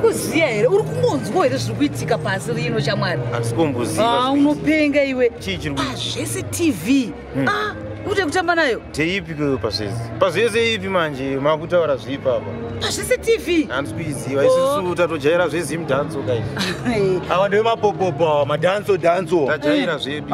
kuziya here uri kungonzwa here zviri kuitika pasi rino chamwari ah, unopenga iwe ah, zvese tv hmm. ah, unoita kutamba nayo teipi keo pazvese pazvese ipi manje makutaura zvipi apa pazvese tv handisi kuiziva isisu oh. tatojaira zvezimdanso kaizvi awa ndeve mapopopo awa madanso danso tajaira zvepi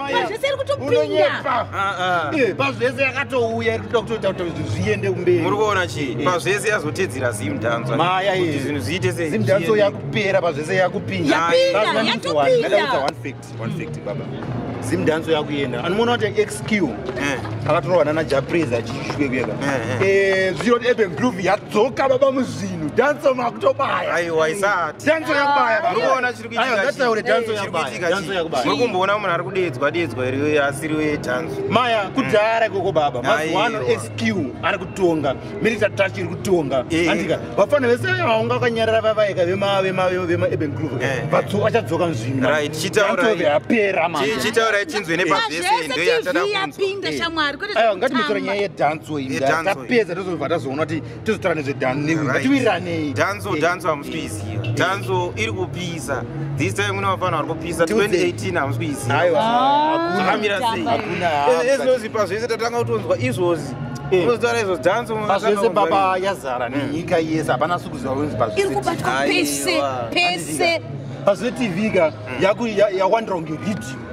pazvese iri kutopinda ah, ah. pazvese yakatouya iri kuda kutoita kuti zviende kumberi muri kuona chii pazvese yazotedzera zimdanso maya kuti zvinhu zviite sei zimdanso yakupera pazvese yakupinda yapinda yatopinda one fact one fact baba zimdanso yakuenda anomuona kuti xq eh. akatorwa nana japres achishwe kuyeka eh, eh. zviro eben groove yadzoka baba muzvinhu danso makutobaya aiwa isati danso yakubaya murikumboona munhu ari kudeedzwa deedzwa iri asiri wetanzo maya kudhara ikoko baba mazuano sq ari kutonga milita touch iri kutonga eh. andika vafana vese vaunga vakanyarara vavaika vemaeben group eh. vatso vachadzoka nzvimbochitaurai chinzwe nepaveseyapinda shamwari ngatimutora nyaya yedanso iyi tapedza tozobva tazoona kuti tozotaura nezvedhanzovatiwiraneyi dhanzo eh, dhanzo hamusi kuiziva eh, eh. dhanzo iri kupisa this time mune vafana vari kupisa 2018 hamusi kuizivaamira ah, seiezinozipa zvese tatanga kutonzwa izvozvi unozotaura izvo dhanzo pazvese baba yazara nenyika hmm. yese hapana sikuziva wenzi pazvese pazve tv ka hmm. yawandira kunge ridhiyo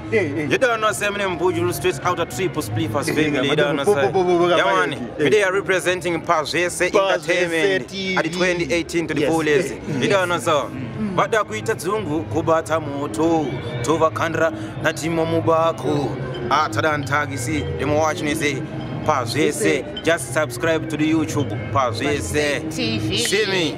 You don't know same name Bujulu straight out of triple split first family. You don't know same. Yawani, today are representing Pazvese Entertainment at 2018 to the fullest. You don't know so. Vada kuita dzungu kubata moto tovakandira natimo mubako atada ah, ntagisi ndimowachinese pazvese just subscribe to the youtube pazvese see me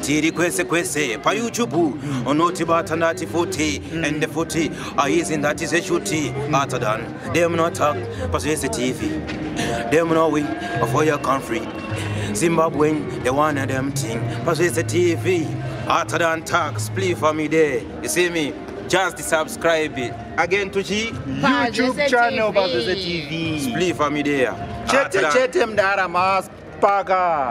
tiri kwese kwese payoutube unotibata ndati futi ende futi aizi ndati zveshuti atadan demnotak pazvese tv demnowi for your country zimbabwen the one and emting pazvese tv atadan tak spli famide you see me just subscribe it. again to chi youtube channel pazvese tv spli famidea chete chete mdara maspaka